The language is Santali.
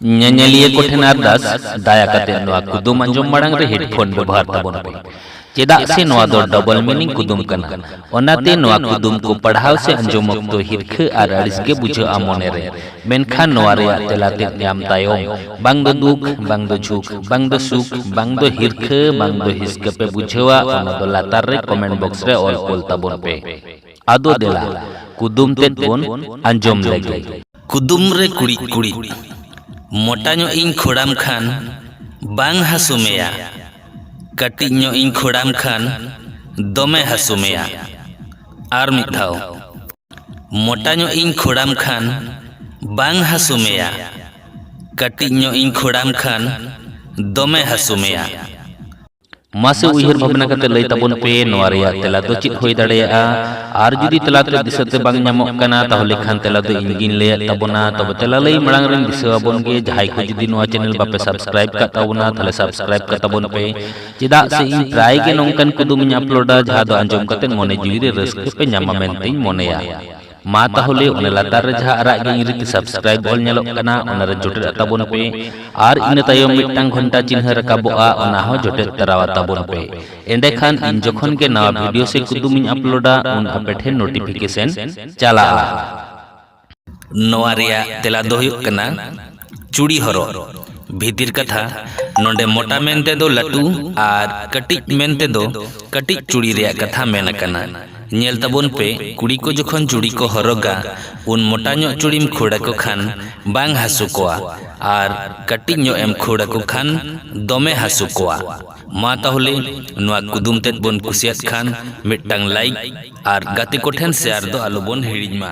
ᱧᱮᱧᱮᱞᱤᱭᱟᱹ ᱠᱚ ᱴᱷᱮᱱ ᱟᱨᱫᱟᱥ ᱫᱟᱭᱟ ᱠᱟᱛᱮ ᱱᱚᱣᱟ ᱠᱩᱫᱩᱢ ᱟᱸᱡᱚᱢ ᱢᱟᱲᱟᱝ ᱨᱮ ᱦᱮᱰᱯᱷᱳᱱ ᱵᱮᱵᱚᱦᱟᱨ ᱛᱟᱵᱚᱱ ᱯᱮ ᱪᱮᱫᱟᱜ ᱥᱮ ᱱᱚᱣᱟ ᱫᱚ ᱰᱚᱵᱚᱞ ᱢᱤᱱᱤᱝ ᱠᱩᱫᱩᱢ ᱠᱟᱱᱟ ᱚᱱᱟᱛᱮ ᱱᱚᱣᱟ ᱠᱩᱫᱩᱢ ᱠᱚ ᱯᱟᱲᱦᱟᱣ ᱥᱮ ᱟᱸᱡᱚᱢ ᱚᱠᱛᱚ ᱦᱤᱨᱠᱷᱟᱹ ᱟᱨ ᱟᱹᱲᱤᱥ ᱜᱮ ᱵᱩᱡᱷᱟᱹᱜᱼᱟ ᱢᱚᱱᱮ ᱨᱮ ᱢᱮᱱᱠᱷᱟᱱ ᱱᱚᱣᱟ ᱨᱮᱭᱟᱜ ᱛᱮᱞᱟ ᱛᱮᱫ ᱧᱟᱢ ᱛᱟᱭᱚᱢ ᱵᱟᱝ ᱫᱚ ᱫᱩᱠ ᱵᱟᱝ ᱫᱚ ᱡᱷᱩᱠ ᱵᱟᱝ ᱫᱚ ᱥᱩᱠ ᱵᱟᱝ ᱫᱚ ᱦᱤᱨᱠᱷᱟᱹ ᱵᱟᱝ ᱫᱚ ᱦᱤᱥᱠᱟᱹ ᱯᱮ ᱵᱩᱡᱷᱟᱹᱣᱟ ᱚᱱᱟ ᱫᱚ ᱞᱟᱛᱟᱨ ᱨᱮ ᱠᱚᱢᱮᱱᱴ ᱵᱚᱠᱥ ᱨᱮ ᱚᱞ ᱠᱳᱞ ᱛᱟᱵᱚᱱ ᱯᱮ ᱟᱫᱚ ᱫᱮᱞᱟ ᱠᱩᱫᱩᱢ ᱛᱮᱫ ᱵᱚᱱ ᱟᱸᱡᱚᱢ ᱞᱮᱜᱮ ᱠᱩᱫᱩᱢ ᱨᱮ ᱠᱩᱲᱤᱫ ᱠᱩᱲᱤᱫ ᱢᱚᱴᱟ ᱧᱚᱜ ᱤᱧ ᱠᱷᱚᱲᱟᱢ ᱠᱷᱟᱱ ᱵᱟᱝ ᱦᱟᱹᱥᱩ ᱢᱮᱭᱟ ᱠᱟᱹᱴᱤᱡ ᱧᱚᱜ ᱤᱧ ᱠᱷᱚᱲᱟᱢ ᱠᱷᱟᱱ ᱫᱚᱢᱮ ᱦᱟᱹᱥᱩ ᱢᱮᱭᱟ ᱟᱨ ᱢᱤᱫ ᱫᱷᱟᱣ ᱢᱚᱴᱟ ᱧᱚᱜ ᱤᱧ ᱠᱷᱚᱲᱟᱢ ᱠᱷᱟᱱ ᱵᱟᱝ ᱦᱟᱹᱥᱩ ᱢᱮᱭᱟ ᱠᱟᱹᱴᱤᱡ ᱧᱚᱜ ᱤᱧ ᱠᱷᱚᱲᱟᱢ ᱠᱷᱟᱱ ᱫᱚᱢᱮ ᱦᱟᱹᱥᱩ ᱢᱮᱭᱟ ᱢᱟᱥᱮ ᱩᱭᱦᱟᱹᱨ ᱵᱷᱟᱵᱽᱱᱟ ᱠᱟᱛᱮ ᱞᱟᱹᱭ ᱛᱟᱵᱚᱱ ᱯᱮ ᱱᱚᱣᱟ ᱨᱮᱭᱟᱜ ᱛᱮᱞᱟ ᱫᱚ ᱪᱮᱫ ᱦᱩᱭ ᱫᱟᱲᱮᱭᱟᱜᱼᱟ ᱟᱨ ᱡᱩᱫᱤ ᱛᱮᱞᱟ ᱛᱮ ᱫᱤᱥᱟᱹ ᱛᱮ ᱵᱟᱝ ᱧᱟᱢᱚᱜ ᱠᱟᱱᱟ ᱛᱟᱦᱚᱞᱮ ᱠᱷᱟᱱ ᱛᱮᱞᱟ ᱫᱚ ᱤᱧ ᱜᱤᱧ ᱞᱟᱹᱭᱟᱫ ᱛᱟᱵᱚᱱᱟ ᱛᱚᱵᱮ ᱛᱮᱞᱟ ᱞᱟᱹᱭ ᱢᱟᱲᱟᱝ ᱨᱮᱧ ᱫᱤᱥᱟᱹ ᱟᱵᱚᱱ ᱜᱮ ᱡᱟᱦᱟᱸᱭ ᱠᱚ ᱡᱩᱫᱤ ᱱᱚᱣᱟ ᱪᱮᱱᱮᱞ ᱵᱟᱯᱮ ᱥᱟᱵᱥᱠᱨᱟᱭᱤᱵ ᱠᱟᱜ ᱛᱟᱵᱚᱱᱟ ᱛᱟᱦᱚᱞᱮ ᱥᱟᱵᱥᱠᱨᱟᱭᱤᱵ ᱠᱟᱜ ᱛᱟᱵᱚᱱ ᱯᱮ ᱪᱮᱫᱟᱜ ᱥᱮ ᱤᱧ ᱯᱨᱟᱭ ᱜᱮ ᱱᱚᱝᱠᱟᱱ ᱠᱩᱫᱩᱢᱤᱧ ᱟᱯᱞᱳᱰᱟ ᱡᱟᱦᱟᱸ ᱫᱚ ᱟᱸᱡᱚᱢ ᱠᱟᱛᱮ ᱢᱚᱱᱮ ᱡᱤᱣᱤ ᱨᱮ ᱨᱟᱹᱥᱠᱟᱹ ᱯᱮ ᱧᱟᱢᱟ ᱢᱮᱱᱛᱮᱧ ᱢᱚᱱᱮᱭᱟ ᱢᱟ ᱛᱟᱦᱚᱞᱮ ᱚᱱᱟ ᱞᱟᱛᱟᱨ ᱨᱮ ᱡᱟᱦᱟᱸ ᱟᱨᱟᱜ ᱜᱮ ᱤᱧ ᱨᱤᱛᱤ ᱥᱟᱵᱥᱠᱨᱟᱭᱤᱵ ᱚᱞ ᱧᱮᱞᱚᱜ ᱠᱟᱱᱟ ᱚᱱᱟ ᱨᱮ ᱡᱚᱴᱮᱫ ᱛᱟᱵᱚᱱ ᱯᱮ ᱟᱨ ᱤᱱᱟᱹ ᱛᱟᱭᱚᱢ ᱢᱤᱫᱴᱟᱝ ᱜᱷᱚᱱᱴᱟ ᱪᱤᱱᱦᱟᱹ ᱨᱟᱠᱟᱵᱚᱜᱼᱟ ᱚᱱᱟ ᱦᱚᱸ ᱡᱚᱴᱮᱫ ᱛᱟᱨᱟᱣᱟ ᱛᱟᱵᱚᱱ ᱯᱮ ᱮᱸᱰᱮᱠᱷᱟᱱ ᱤᱧ ᱡᱚᱠᱷᱚᱱ ᱜᱮ ᱱᱟᱣᱟ ᱵᱷᱤᱰᱤᱭᱳ ᱥᱮ ᱠᱩᱫᱩᱢ ᱤᱧ ᱟᱯᱞᱳᱰᱟ ᱩᱱ ᱟᱯᱮ ᱴᱷᱮᱱ ᱱᱳᱴᱤᱯᱷᱤᱠᱮᱥᱚᱱ ᱪᱟᱞᱟᱜᱼᱟ ᱱᱚᱣᱟ ᱨᱮᱭᱟᱜ ᱛᱮᱞᱟ ᱫᱚ ᱦᱩᱭᱩᱜ ᱠᱟᱱᱟ ᱪᱩᱲᱤ ᱦᱚᱨᱚᱜ ᱵᱷᱤᱛᱤᱨ ᱠᱟᱛᱷᱟ ᱱᱚᱰᱮ ᱢᱚᱴᱟ ᱢᱮᱱ ᱛᱮᱫᱚ ᱞᱟᱹᱴᱩ ᱟᱨ ᱠᱟᱹᱴᱤᱡ ᱢᱮᱱ ᱛᱮᱫᱚ ᱠᱟᱹᱴᱤᱡ ᱪᱩᱲᱤ ᱨᱮᱭᱟᱜ ᱠᱟᱛᱷᱟ ᱢᱮᱱ ᱟᱠᱟᱱᱟ ᱧᱮᱞ ᱛᱟᱵᱚᱱ ᱯᱮ ᱠᱩᱲᱤ ᱠᱚ ᱡᱚᱠᱷᱚᱱ ᱪᱩᱲᱤ ᱠᱚ ᱦᱚᱨᱚᱜᱟ ᱩᱱ ᱢᱚᱴᱟ ᱧᱚᱜ ᱪᱩᱲᱤᱢ ᱠᱷᱟᱹᱲ ᱟᱠᱚ ᱠᱷᱟᱱ ᱵᱟᱝ ᱦᱟᱹᱥᱩ ᱠᱚᱣᱟ ᱟᱨ ᱠᱟᱹᱴᱤᱡ ᱧᱚᱜ ᱮᱢ ᱠᱷᱟᱹᱲ ᱟᱠᱚ ᱠᱷᱟᱱ ᱫᱚᱢᱮ ᱦᱟᱹᱥᱩ ᱠᱚᱣᱟ ᱢᱟ ᱛᱟᱦᱚᱞᱮ ᱱᱚᱣᱟ ᱠᱩᱫᱩᱢ ᱛᱮᱫ ᱵᱚᱱ ᱠᱩᱥᱤᱭᱟᱫ ᱠᱷᱟᱱ ᱢᱤᱫᱴᱟᱝ ᱞᱟᱭᱤᱠ ᱟᱨ ᱜᱟᱛᱮ ᱠᱚᱴᱷᱮᱱ ᱥᱮᱭᱟᱨ ᱫᱚ ᱟᱞᱚᱵᱚᱱ ᱦᱤᱲᱤᱧ ᱢᱟ